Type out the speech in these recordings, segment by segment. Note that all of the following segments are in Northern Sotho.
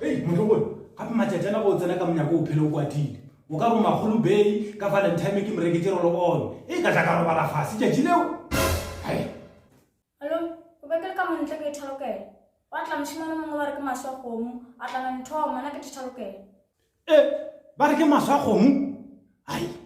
Hei, motlogolo, gape matšatši ana go o tsena ka monyako o phele o kwatile. O ka bomagolo Bay ka Valentine ke mo reketše rolo-on. E ka tla ka robala fase tšatši leo. Hai. Malome, o be ke le ka montle ke ithalokela. Gwa tla mošemane o mongwe ba re ke maswa kgomo, a tla na nthomo, na ke thethalokela. E, ba re ke maswa kgomo? Hai.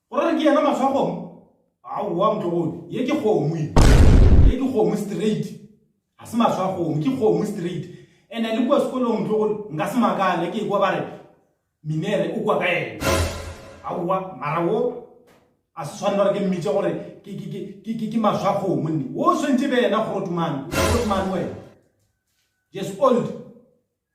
Go ra re ke yena mahlo a kgomo? Aowa motlogolo, ye ke kgomo ye. Ye ke kgomo straight. Ga se mahlo a kgomo, ke kgomo straight. Ene le kua sekolong motlogolo, nka se makale ke ekwa ba re Minere o kua ka ena. Aowa, mara wo a se swanela gore ke mmitše gore ke, ke, ke, ke, ke, ke mahlo a kgomo nne. Wo o swantše e be yena Grootman. Grootman wena. Yes, old.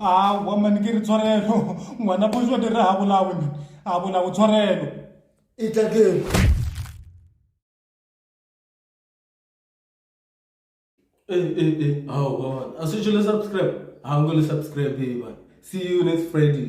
aowa mane ke re tshwarelo ngwana bojo di re ga bolawe mane a bolawe tshwarelo aowa a se tšo le subscribe a nko le subscribe ba see you next friday